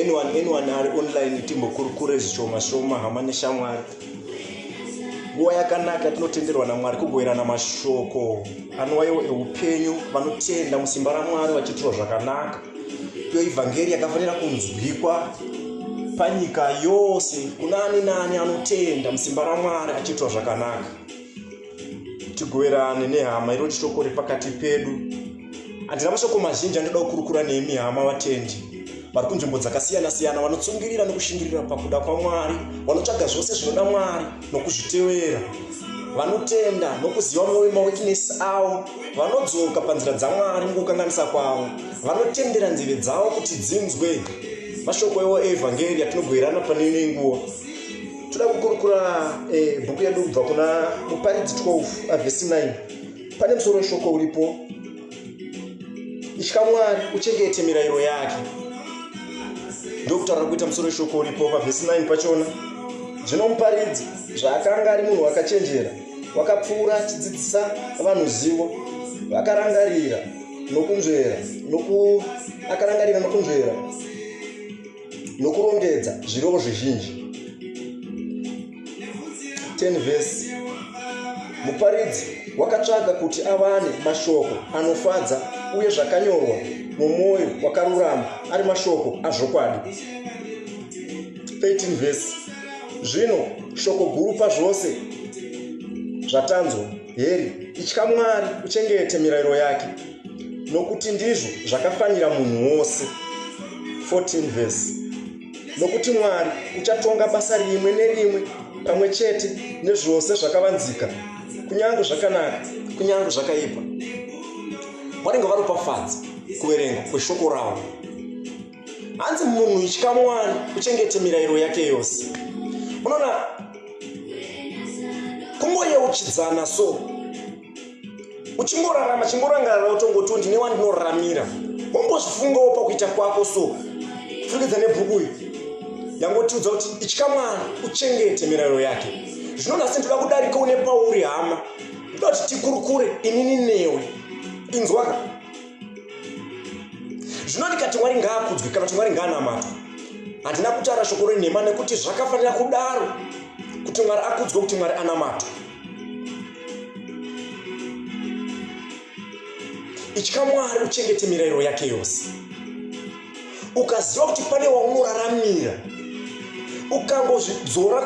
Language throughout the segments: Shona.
anyone anyone ari online timbokurukure zvishoma shoma hama neshamwari nguva yakanaka tinotenderwa namwari kugoverana mashoko anowaiwo eupenyu vanotenda musimba ramwari vachiitirwa zvakanaka iyo ivhangeri yakafanira kunzwikwa panyika yose kuna ani naani anotenda musimba ramwari achiitirwa zvakanaka tigoverane nehama iro chitoko repakati pedu handina mashoko mazhinji andoda kukurukura nemi hama vatendi vari kunzvimbo dzakasiyana-siyana vanotsungirira nekushingirira pakuda kwamwari vanotsvaga zvose zvinoda mwari nokuzvitevera vanotenda nokuziva mwoyo mawekinesi avo vanodzoka panzira dzamwari mukukanganisa kwavo vanotendera nzeve dzavo kuti dzinzwe mashoko ewo eevhangeri atinogoerana pane imwe nguva toda kukurukura eh, bhuku yedu kubva kuna muparidzi 12 avhesi 9 pane musoro weshoko uripo itya mwari uchengete mirayiro yake ndokutaura kuita musoro weshoko uripo pavhesi 9 pachona zvino muparidzi zvaakanga ari munhu wakachenjera wakapfuura achidzidzisa vanhu zivo vakarangarira nokunzvera noku akarangarira nokunzvera nokurongedza zvirevo zvizhinji 10 vhesi muparidzi wakatsvaga kuti awane mashoko anofadza uye zvakanyorwa nomwoyo wakarurama ari mashoko azvokwadi 13 vhesi zvino shoko guru pazvose zvatanzwa heri itya mwari uchengete mirayiro yake nokuti ndizvo zvakafanira munhu wose 14 vhesi nokuti mwari uchatonga basa rimwe nerimwe pamwe chete nezvose zvakavanzika kunyange zvakanaka kunyange zvakaipa vanenge varopafadza kuverenga kweshoko ravo hanzi munhu itya mwari uchengete mirayiro yake yose unoona kungoyeuchidzana so uchingorarama chingorangarara utongoti ndine wandinoramira wombozvifungawo pakuita kwako so furikidza nebhuku iyi yangotiudza kuti itya mwana uchengete mirayiro yake zvino nhasi ndoda kudarika une pauri hama ndoda kuti tikurukure inini newe inzwaka zvino ndikati mwari ngaakudzwi kana kuti mwari ngaanamatwa handina kutaura shoko renhema nekuti zvakafanira kudaro kuti mwari akudzwe kuti mwari anamatwa itya mwari uchengete mirayiro yake yose ukaziva kuti pane waunoraramira ukangozvidzora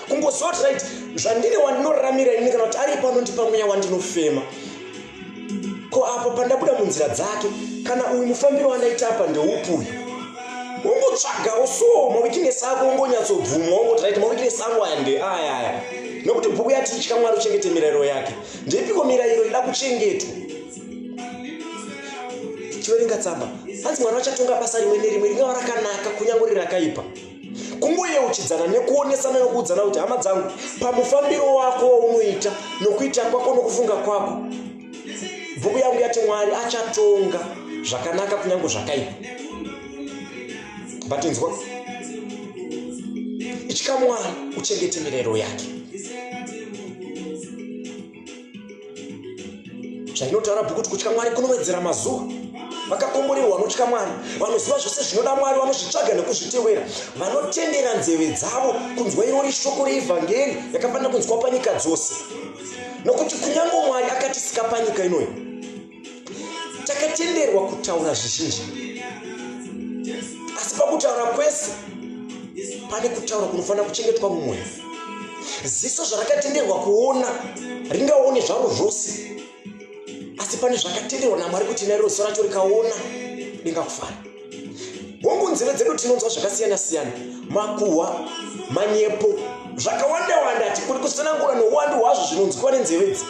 kungoziva kuti right zvandiri wandinoraramira ini kana kuti ari pano ndipamweya wandinofema ko apo pandabuda munzira dzake kana uyu mufambiro wandaita apa ndeupi uyu ungotsvagawo so mawikinesi ako ungonyatsobvumwa ungoti rit mawikinesi angu aya ndeaya aya nokuti bhuku yati itya mwari uchengete mirayiro yake ndeipiko mirayiro ida kuchengetwa chiverenga tsamba hanzi mwana vachatonga basa rimwe nerimwe ringava rakanaka kunyange rirakaipa kungoyeuchidzana nekuonesana nokuudzana kuti hama dzangu pamufambiro wako waunoita nokuita kwako nokufunga kwako bhuku yangu yati mwari achatonga zvakanaka kunyange zvakaipa batinzwa itya mwari uchengete mirero yake zvainotaura bhuku kuti kutya mwari kunowedzera mazuva vakakomborerwa vanotya mwari vanoziva zvose zvinoda mwari vanozvitsvaga nekuzvitewera vanotendera nzeve dzavo kunzwa irori shoko reevhangeri yakafanira kunzwa panyika dzose nokuti kunyange mwari akatisika panyika inoyi takatenderwa kutaura zvizhinji asi pakutaura kwese pane kutaura kunofanira kuchengetwa mumwoyo ziso zvarakatenderwa kuona ringaone zvaro zvose asi pane zvakatenderwa namwari kuti nairo ziso racho rikaona ringakufara hongu nzeve dzedu tinonzwa zvakasiyana siyana makuhwa manyepo zvakawanda wanda ati kuri kusanangura nouwandu hwazvo zvinonzwiwa nenzeve dzi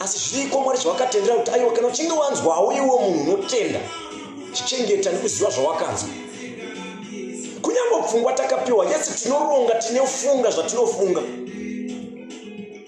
asi zviriko mwari zvawakatendera kuti aiwa kana uchinge wanzwawo iwo munhu unotenda chichengeta nekuziva zvawakanzwa kunyange pfungwa takapiwa yesi tinoronga tinofunga zvatinofunga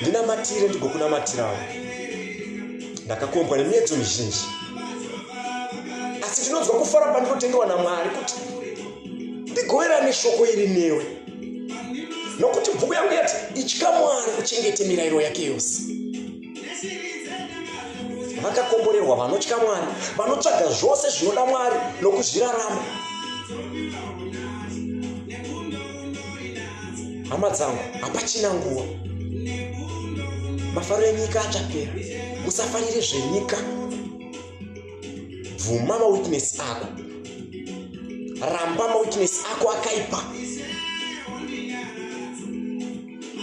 ndinamatire ndigokunamatirawo ndakakombwa nemiedzo mizhinji asi ndinonzwa kufara pandinotendewa namwari kuti ndigoverane shoko iri newe nokuti bhuku yangu yati itya mwari uchengete mirayiro yake yose vakakomborerwa vanotya mwari vanotsvaga zvose zvinoda mwari nokuzvirarama hama dzangu hapachina nguva mafaro enyika achapera usafarire zvenyika bvuma mawitness ako ramba mawitness ako akaipa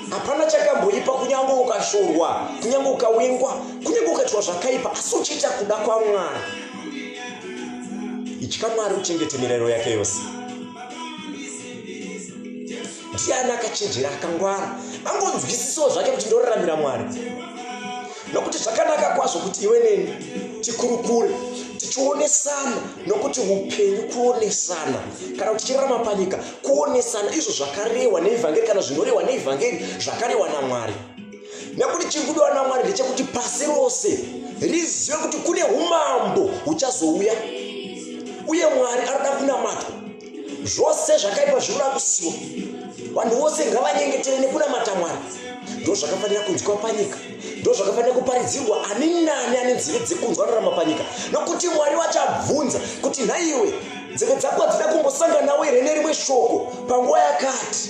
hapana chakamboipa kunyange ukashorwa kunyange ukawengwa kunyange ukaitwa zvakaipa asi uchiita kuda kwamwari itya mwari uchengete mirayiro yake yose ndiani akachenjera akangwara angonzwisisawo zvake kuti ndoraramira mwari nokuti zvakanaka kwazvo kuti iwe neni tikurukure tichionesana nokuti upenyu kuonesana kana kuti chirarama panyika kuonesana izvo zvakarehwa neevhangeri kana zvinorehwa neevhangeri zvakarehwa namwari nekuti chiri kudiwa namwari ndechekuti pasi rose rizive kuti kune umambo huchazouya uye mwari anoda kunamatwa zvose zvakaipa zvinoda kusiwa vanhu vose ngavanyengetere nekuna matamwana ndo zvakafanira kunzwa panyika ndo zvakafanira kuparidzirwa ani nani ane nzivi dzekunzwa rarama panyika nokuti mwari vachabvunza kuti nhaiwe nzeve dzako hadzina kumbosanganawo here nerimwe shoko panguva yakati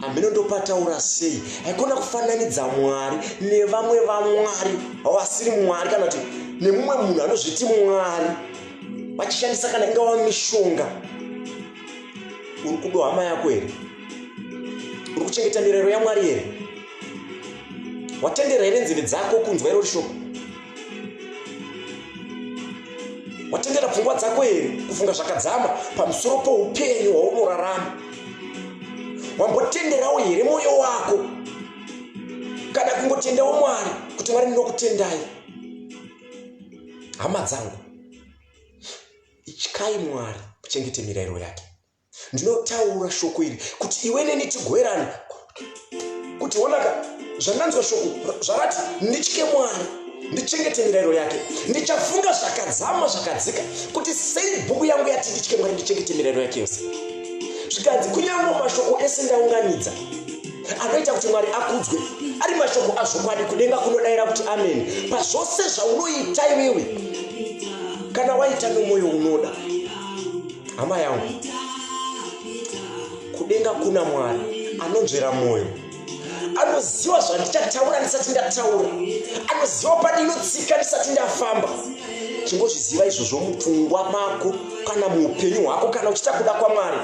hameno ndopataura sei haikona kufananidza mwari nevamwe vamwari vasiri mwari kana kuti nemumwe munhu anozviti mwari vachishandisa kana ingava mishonga uri kudo hama yako here uri kuchengeta mirayiro yamwari here watendera here nzeve dzako kunzwa irori shoko watengera pfungwa dzako here kufunga zvakadzama pamusoro poupenyu hwaunorarama wambotenderawo here mwoyo wako kana kungotendawo mwari kuti mwari ndinokutendai hama dzangu ityai mwari kuchengete mirayiro yake ndinotaura shoko iri kuti iwe neni tigoerane kuti onaka zvandanzwa shoko zvakati nditye mwari ndichengete mirayiro yake ndichafunga zvakadzama zvakadzika kuti sei bhuku yangu yati nditye mwari ndichengete mirayiro yake yose zvikanzi kunyange mashoko ese ndaunganidza anoita kuti mwari akudzwe ari mashoko azvokwadi kudenga kunodayira kuti ameni pazvose zvaunoita iwewe kana waita nomwoyo unoda hama yangu kudenga kuna mwari anonzvera mwoyo anoziva zvandichataura ndisati ndataura anoziva pandinotsika ndisati ndafamba chingozviziva izvozvo mupfungwa mako kana muupenyu hwako kana uchiita kuda kwamwari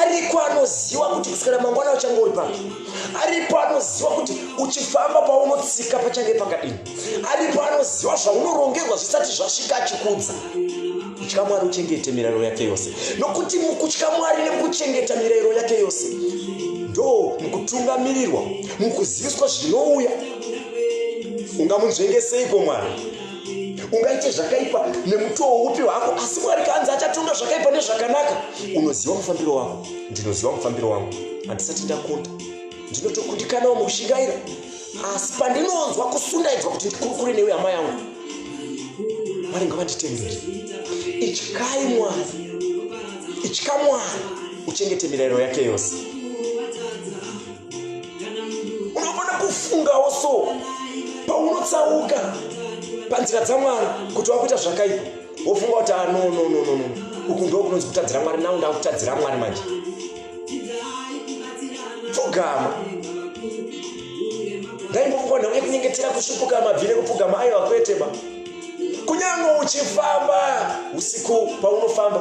ariko anoziva kuti kusikana mangwana uchange uri papi aripo anoziva kuti uchifamba paunotsika pachange pakadini aripo anoziva zvaunorongerwa zvisati zvasvika achikudza kutya mwari uchengete mirayiro yake yose nokuti mukutya mwari nekuchengeta mirayiro yake yose ndo mukutungamirirwa mukuziviswa zvinouya ungamunzvengeseiko mwari ungaite zvakaipa nemutowo upi wako asi mwari kanzi achatonga zvakaipa nezvakanaka unoziva mufambiro wako ndinoziva mufambiro wangu handisati ndakonda ndinotokundikanawo mukushingaira asi pandinonzwa kusundaidzwa kuti ndikurukure newe hama yangu mwari ngavanditenderi ityai mwari itya mwari uchengete mirayiro yake yose unogona kufungawo so paunotsauka panzira dzamwari kuti wakuita zvakaipa wofunga kuti anonononono ah, uku ndo kunonzi kutadzira mwari nau ndakutadzira mwari manje pfugama ngaimbokukonda uye kunyengetera kusvipuka mabvi nekupfugama aiva kweteba kunyange uchifamba usiku paunofamba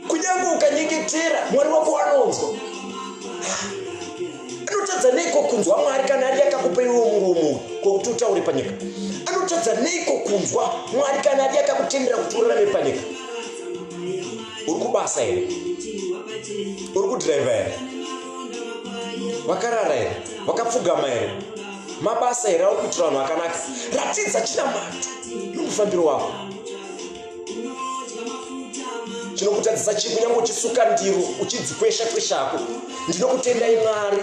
kunyange ukanyengetera mwari wako anonzwa anotadza neiko kunzwa mwari kana ari akakupa iwe murumu kwokuti utaure panyika anotadza neiko kunzwa mwari kana ari akakutendera kuti urarame panyika uri kubasa here uri kudhiraivha here vakarara here vakapfugama here mabasa here aukuitira vanhu akanaka ratidza chinamato nomufambiro wako chinokutadzisa chii kunyange uchisuka ndiro uchidzikwesha kweshako ndinokutendai mwari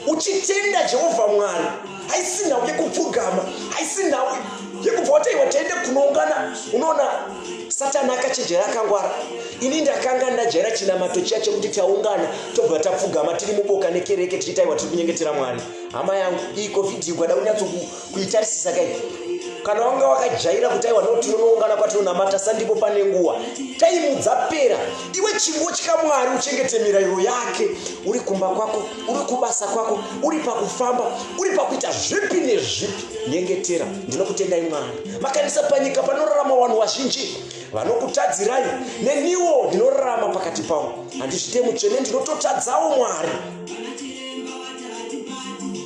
uchitenda jehovha mwari haisi nhau yekupfugama haisi nhau yekubva wataiwa taende kunoungana unoona satani akachenjera akangwara ini ndakanga ndajaira chinamato chiya chekuti taungana tobva tapfugama tiri muboka nekereke tichitaiwa tiri kunyengetera mwari hama yangu iyi covid yigwada kunyatsoku kuitarisisa kai kana wanga wakajaira kuti aiwa no tinonoungana kwatinonamata sandipo pane nguva taimu dzapera iwe chingotya mwari uchengete mirayiro yake uri kumba kwako uri kubasa kwako uri pakufamba uri pakuita zvipi nezvipi nyengetera ndinokutendai mwari makanisa panyika panorarama vanhu vazhinji vanokutadzirai neniwo ndinorarama pakati pavo handizvite mutsvene ndinototadzawo mwari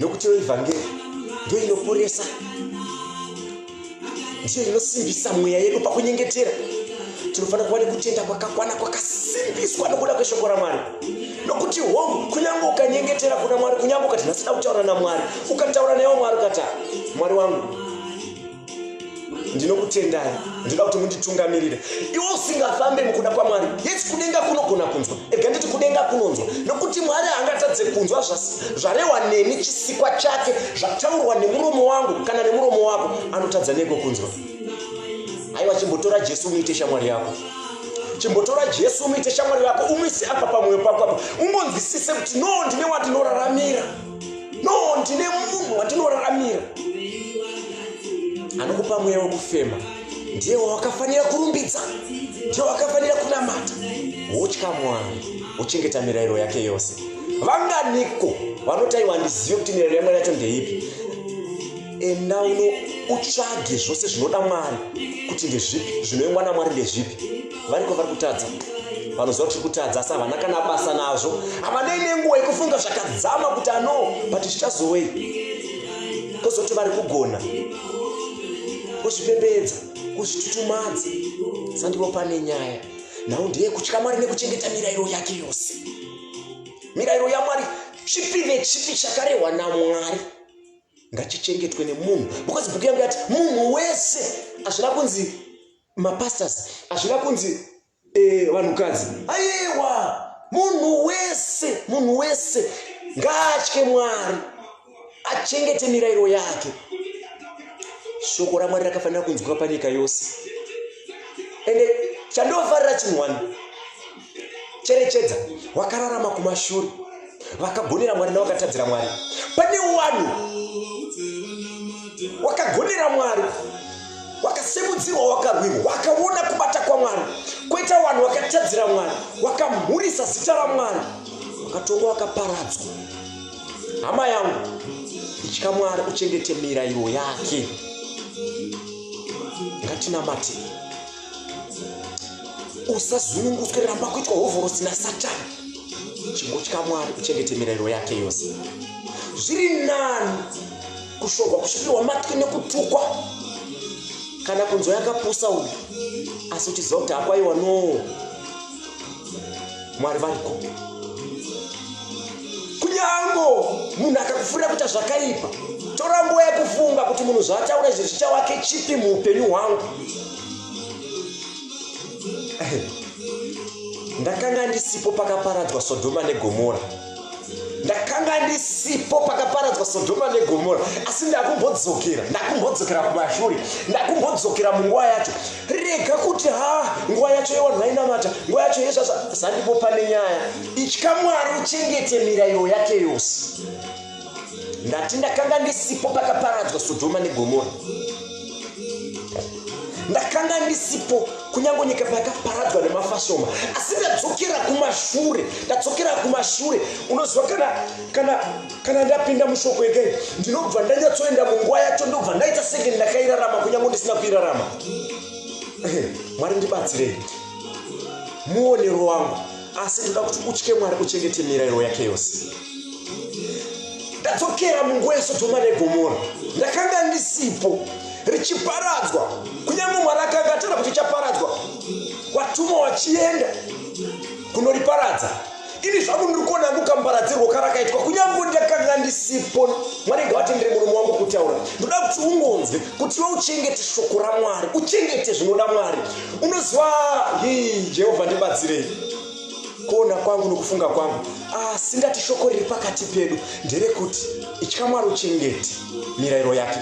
nokutiwo evhangeri ndiyo inoporesa ndiyo inosimbisa mweya yedu pakunyengetera tinofanira kuva nekutenda kwakakwana kwakasimbiswa nokuda kweshoko ramwari nokuti hom kunyange ukanyengetera kuna mwari kunyange ukati nhasida kutaura namwari ukataura naiwo mwari ukata mwari wangu ndinokutendai ndinoda kuti munditungamirire iwo usingafambe mukuda kwamwari yes kudenga kunogona kunzwa ega nditi kudenga kunonzwa nokuti mwari haangatadze kunzwa zvarewa neni chisikwa chake zvataurwa nemuromo wangu kana nemuromo wako anotadza neko kunzwa aiwa chimbotora jesu unoite shamwari yako chimbotora jesu umuite shamwari yako umwise apa pamwoyo pako apa umbonzwisise kuti no ndine wandinoraramira no ndine munhu wandinoraramira anokupa mweya wekufema ndiye wawakafanira kurumbidza ndiye wakafanira kunamata wotya mwari wochengeta mirayiro yake yose vanganiko vanotaiwa ndizive kuti mirayiro yamwari yacho ndeipi enda uno utsvage zvose zvinoda mwari kuti ndezvipi zvinoengwa namwari ndezvipi variko vari kutadza vanoziva kuti kutadza asi havana kana basa nazvo havanei nenguva yekufunga zvakadzama kuti ano but zvichazovei kozoti vari kugona kuzvipembedza kuzvitutumadza sandivo pane nyaya nhau ndeyekutya mwari nekuchengeta mirayiro yake yose mirayiro yamwari chipi nechipi chakarehwa namwari ngachichengetwe nemunhu because bhuku yangu yati munhu wese hazvina kunzi mapastors hazvina kunzi eh, vanhukadzi eh, ayewa munhu wese munhu wese ngaatye mwari achengete mirayiro yake shoko ramwari rakafanira kunzwika panyika yose ende chandofarira chinhu wani cherechedza wakararama kumashure vakagonera mwari navakatadzira mwari pane wani wakagonera mwari wakasemudzirwa wakarwirwa wakaona kubata kwamwari kwoita vanhu wakatadzira mwari wakamhurisa zita ramwari wakatongwa wakaparadzwa hama yangu itya mwari uchengete mirayiro yake ngatinamate usazunungutswe ramba kuitwa hovhorosi nasatani chingotya mwari uchengete mirayiro yake yose zviri nani kushorwa kusvikirwa matwi nekutukwa kana kunzwa yakapusa uyu asi uchiziva kuti hakwaiwa noo mwari variko kunyango munhu akakufurira kuita zvakaipa tora nguva yekufunga kuti munhu zvaataura izvi zvichawake chipi muupenyu hwangu ndakanga ndisipo pakaparadzwa sodhoma negomora ndakanga ndisipo pakaparadzwa sodhoma negomora asi ndakumbodzokera ndakumbodzokera kumashure ndakumbodzokera munguva yacho rega kuti ha nguva yacho yevanhu vainamata nguva yacho yezvazva zandimbo pane nyaya itya mwari uchengete mirayiro yake yose ndati ndakanga ndisipo pakaparadzwa sodhoma negomora ndakanga ndisipo kunyange nyika payakaparadzwa nemafashoma asi ndadzokera kumashure ndadzokera kumashure unoziva kana kana kana ndapinda mushoko yekei ndinobva ndanyatsoenda munguva yacho ndobva ndaita senge ndakairarama kunyange ndisina kuirarama mwari ndibatsirei muonero wangu asi ndoda kuti utye mwari uchengete mirayiro yake yose ndadzokera munguva yesodhoma negomora ndakanga ndisipo richiparadzwa kunyange mwari akanga atara kuti chaparadzwa watuma wachienda kunoriparadza ini zvangu ndiri kuona angu kambaradzirwo karakaitwa kunyange ndakanga ndisipo mwari ngavatendere murume wangu kutaura ndoda kuti ungonzwe kuti iwe uchengete shoko ramwari uchengete zvinoda mwari unoziva hii jehovha ndibatsirei kuona kwangu nokufunga kwangu asi ndati shoko riri pakati pedu nderekuti itya mwari uchengete mirayiro yake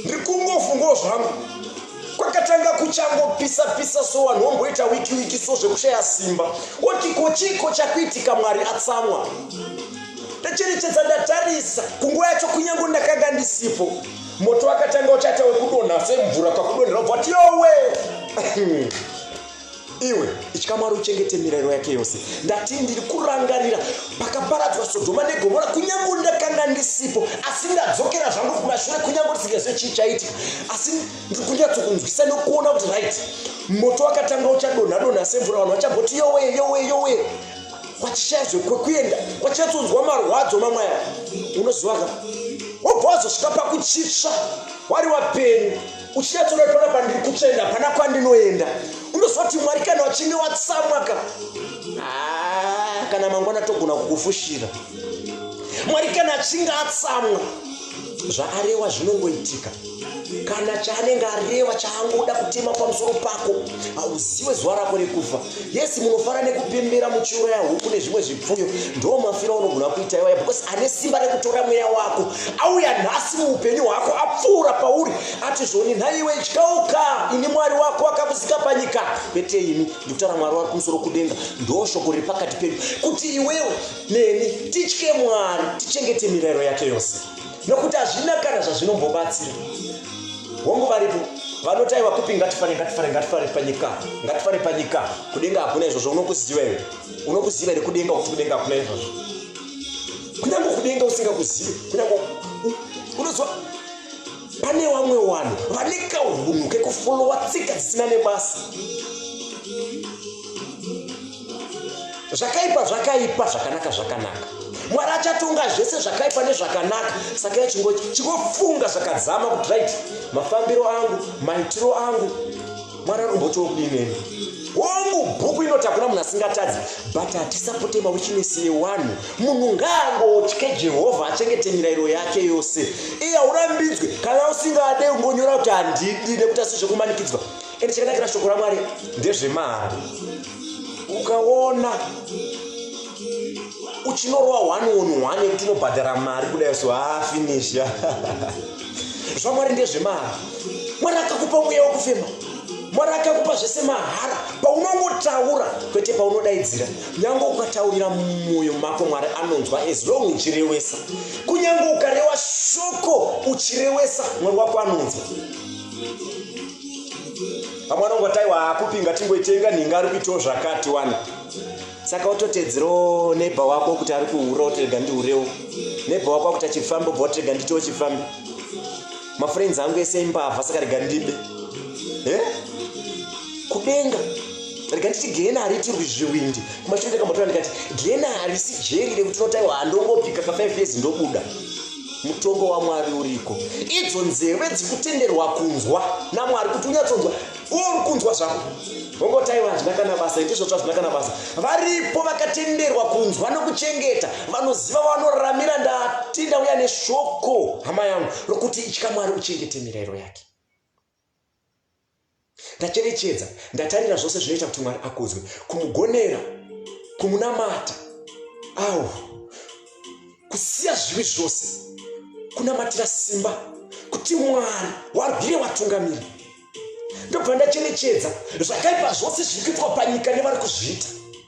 ndiri kungofungawo zvangu kwakatanga kuchangopisa pisa so vanhu vomboita wiki wiki so zvekushaya simba oti ko chiiko chakuitika mwari atsamwa ndacherechedza ndatarisa kunguva yacho kunyange ndakanga ndisipo moto wakatanga uchaita wekudonha semvura pakudonhera ubva kuti yowe iwe itya mwari uchengete mirayiro yake yose ndati ndiri kurangarira pakaparadzwa sodhoma negomora kunyange ndakanga ndisipo asi ndadzokera zvangu kumashure kunyange ndisingazive chii chaitika asi ndiri kunyatsokunzwisa nokuona kuti right moto wakatanga uchadonhadonha semvura vanhu vachagoti yowe yowe yowe kwachishaya zvekwekuenda kwachatonzwa marwadzo mamwe aya unoziva ka wobva wazosvika pakuchitsva wari wapenyu uchinyatsona kuti pana pandiri kutsvenda pana kwandinoenda unoziva kuti mwari kana wachinge watsamwa ka kana mangwana togona kukufushira mwari kana achinge atsamwa zvaarewa zvinongoitika kana chaanenge areva chaangoda kutema pamusoro pako hauziwe zuva rako rekufa yesi munofara nekupembera muchiuraya huku nezvimwe zvipfuyo ndo mafira unogona kuita iwaya because ane simba rekutora mweya wako auya nhasi muupenyu hwako apfuura pauri ati zvoni nhaiwe ityauka ini mwari wako akakuzika panyika kwete ini ndikutaura mwari wari kumusoro kudenga ndo shoko riri pakati pedu kuti iwewe neni titye mwari tichengete mirayiro yake yose nokuti hazvina kana zvazvinombobatsira hongu varipo vanotaiwa kupi ngatifare ngatifare ngatifare panyika ngatifare panyika kudenga hakuna izvozvo unokuziva here unokuziva here kudenga kuti kudenga hakuna izvozvo kunyange kudenga usingakuzive kunyange unoziva pane vamwe vanhu vane kaunhu kekufolowa tsika dzisina nebasa zvakaipa zvakaipa zvakanaka zvakanaka mwari achatonga zvese zvakaipa nezvakanaka saka yachingochi chingofunga zvakadzama kuti right mafambiro angu maitiro angu mwari anombotiwo kudineni hongu bhuku inoti hakuna munhu asingatadzi but hatisapote mawichinesi yewanhu munhu ngaangotye jehovha achengete mirayiro yake yose iye haurambidzwe kana usingade ungonyora kuti handidi nekuti asi zvekumanikidzwa ende chakanakira shoko ramwari ndezvemahara ukaona uchinorowa one on one yekuti unobhadhara mari kudai so haa ah, finish zvamwari ndezvemahara mwari akakupa mweya wekufema mwari akakupa zvese mahara paunongotaura kwete paunodaidzira nyange ukataurira mumwoyo mako mwari anonzwa as long uchirewesa kunyange ukarewa shoko uchirewesa mwari wako anonzwa vamwe vanongoti aiwa haakupi ngatingoitenga nhinga ari kuitawo zvakati wani saka ototedzerawo nebha wako kuti ari kuhura otirega ndihurewo nebha wako akuti achifamba obva otirega nditiwo chifambi mafriends angu ese imbavha saka rega ndibe e kudenga rega nditi gena haritirwi zviwindi kumashure ndakambotora ndikati gena harisi jeri rekuti unotaiwa handongopika ka 5 years ndobuda mutongo wamwari uriko idzo nzeve dzikutenderwa kunzwa namwari kuti unyatsonzwa uri kunzwa zvako vongotai vazvina kana basa itizvo zvazvina kana basa varipo vakatenderwa kunzwa nokuchengeta vanoziva vanoramira ndatinda uya neshoko hama yangu rokuti itya mwari uchengete mirayiro yake ndacherechedza ndatarira zvose zvinoita kuti mwari akudzwe kumugonera kumunamata au kusiya zvivi zvose kunamatira simba kuti mwari warwire watungamiri ndobva ndacherechedza zvakaipa zvose zviri kuitwa panyika nevari kuzviita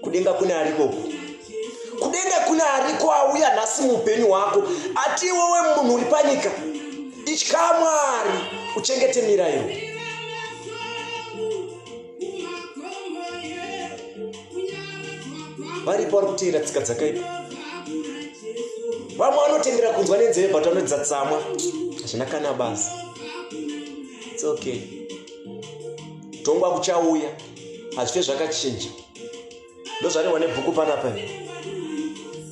kudenga kune ariko kudenga kune ariko auya nhasi muupenyu hwako ati iwewe munhu uri panyika itya mwari uchengete mirairo varipo vari kuteera tsika dzakaipa vamwe vanotendera kunzwa nenzeve but vanoedza tsamwa hazvina kana basa its okay tongwa kuchauya hazvife zvakachinja ndozvarehwa nebhuku panapa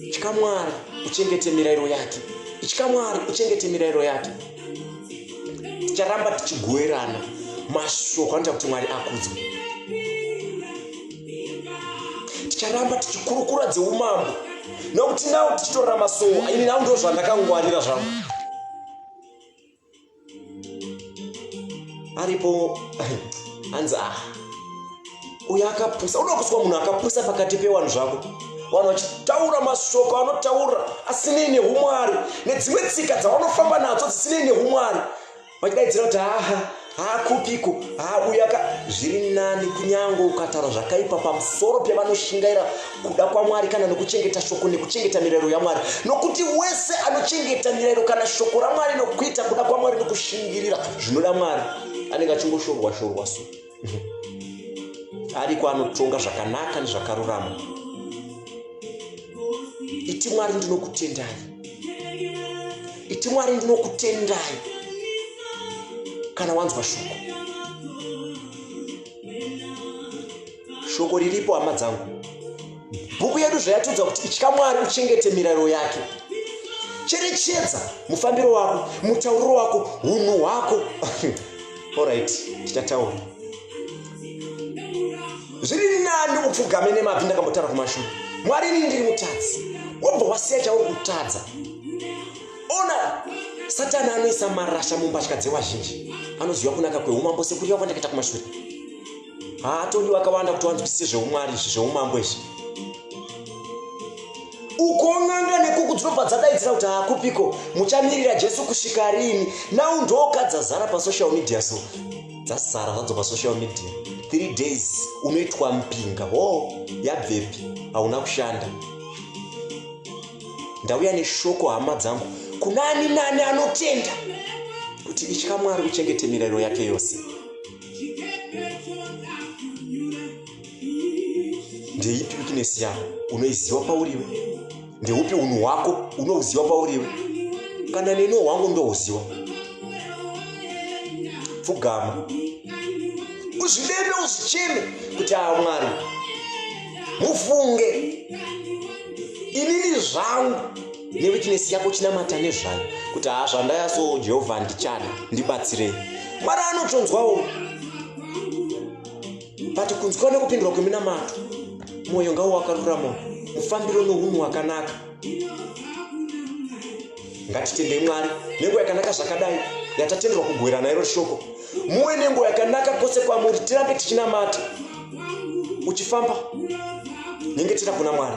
itya mwari uchengete mirairo yake itya mwari uchengete mirairo yake ticharamba tichigoerana mashoko anoita kuti mwari akudzwe ticharamba tichikurukura dzeumambo nokuti nawo tichitorora masoo aini nawo ndo zvandakangwarira zvangu aripo hanzi ah uyo akapusa unoda kuswa munhu akapusa pakati pewanhu zvako vanhu vachitaura mashoko anotaura asinei neumwari nedzimwe tsika dzavanofamba nadzo dzisinei neumwari vachidaidzira kuti aha haakupiko hauyaka zviri nani kunyange ukataura zvakaipa pamusoro pevanoshingaira kuda kwamwari kana nokuchengeta shoko nekuchengeta mirayiro yamwari nokuti wese anochengeta mirayiro kana shoko ramwari nokuita kuda kwamwari nokushingirira zvinoda mwari anenge achingoshorwa shorwa so ariko anotonga zvakanaka nezvakarurama iti mwari ndinokutendai iti mwari ndinokutendai kana wanzwa shoko shoko riripo hama dzangu bhuku yedu zvayatiudza kuti itya mwari uchengete mirayiro yake cherechedza mufambiro wako mutauriro wako hunhu hwako orit tichataura zviri nani upfugame nemabvi ndakambotaura kumashure mwari inini ndiri mutadzi wobva wasiya chauri kutadza ona satani anoisa marasha mumbatya dzevazhinji anoziva kunaka kweumambo sekurira kwandakaita kumashure haatodi vakawanda kuti vanzwisise zveumwari izvi zveumambo izvi ukon'anga nekuku dzinobva dzadaidzira kuti hakupiko muchamirira jesu kusvika riini nau ndoka dzazara pasocial media so dzazara zvadzo pasocial media three days unoitwa mpinga ho oh, yabvepi hauna kushanda ndauya neshoko hama dzangu kunani nani anotenda kuti itya mwari uchengete mirayiro yake yose ndeipi wikinesi yako unoiziva pauriwe ndeupi unhu hwako unouziva pauriwe kana neno hwangu ndouziva pfugama uzvideme uzvicheme kuti aa ah, mwari mufunge inini zvangu newitness yako chinamata nezvayo kuti haa zvandaya so jehovha ndichada ndibatsirei mwari anotonzwawo but kunzwa nekupindurwa kweminamato mwoyo ngawo wakarurama mufambiro nounhu wakanaka ngatitendei mwari nenguva yakanaka zvakadai yatatenderwa kugwera nairo shoko muwe nenguva yakanaka kwose kwamuri tirambe tichinamata uchifamba nyengetera kuna mwari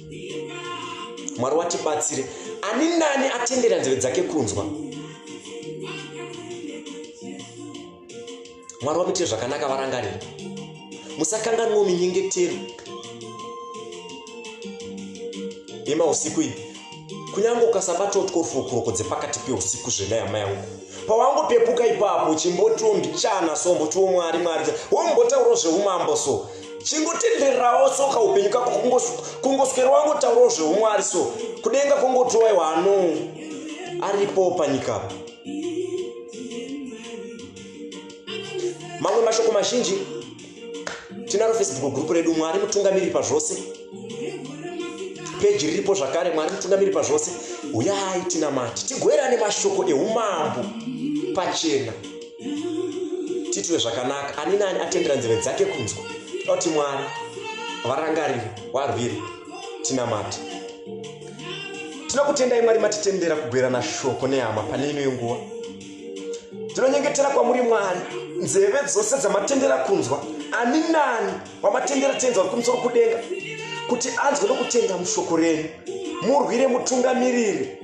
mwari watibatsire ani nani atendera nzeve dzake kunzwa mwari wamuitire zvakanaka varangarira musakanganwo minyengetero yemausiku iyi kunyange ukasabatwa kuti korufukuroko dzepakati peusiku zvena yama yangu pawangopepuka ipapo chimbotiwo mbichana so mbotiwo mwari mwari wombotaurawo zveumambo so chingotendererawo so kaupenyu kako kungoswera wangotaurawo zveumwari so kudenga kongotiwaiwa ano aripo panyika apa mamwe mashoko mazhinji tinaro facebook group redu mwari mutungamiri pazvose peji riripo zvakare mwari mutungamiri pazvose uyai tinamati tigoerane mashoko eumambo pachena titwe zvakanaka ani nani atendera nzeve dzake kunzwa toti mwari varangariri warwiri tinamati tinokutendai mwari matitendera kugwerana shoko nehama pane ino yenguva tinonyengetera kwamuri mwari nzeve dzose dzamatendera kunzwa ani nani wamatendera tenzi wari kumusoro kudenga kuti anzwe nokutenda mushoko renyu murwire mutungamiriri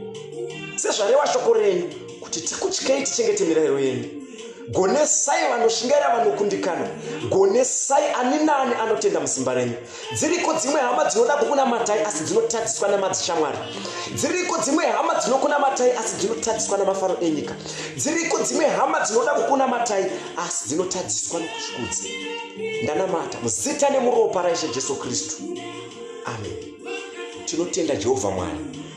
sezvarewa shoko renyu kuti tikutyei tichengete mirayiro yenyu gonesai vanoshingaira vanokundikana gonesai ani naani anotenda musimba renyu dziriko dzimwe hama dzinoda kukunamatai asi dzinotadziswa nemadzishamwari dziriko dzimwe hama dzinokunamatai asi dzinotadziswa nemafaro enyika dziriko dzimwe hama dzinoda kukunamatai asi dzinotadziswa nekushikudzi ndanamata muzita nemuropa raishe jesu kristu amen tinotenda jehovha mwari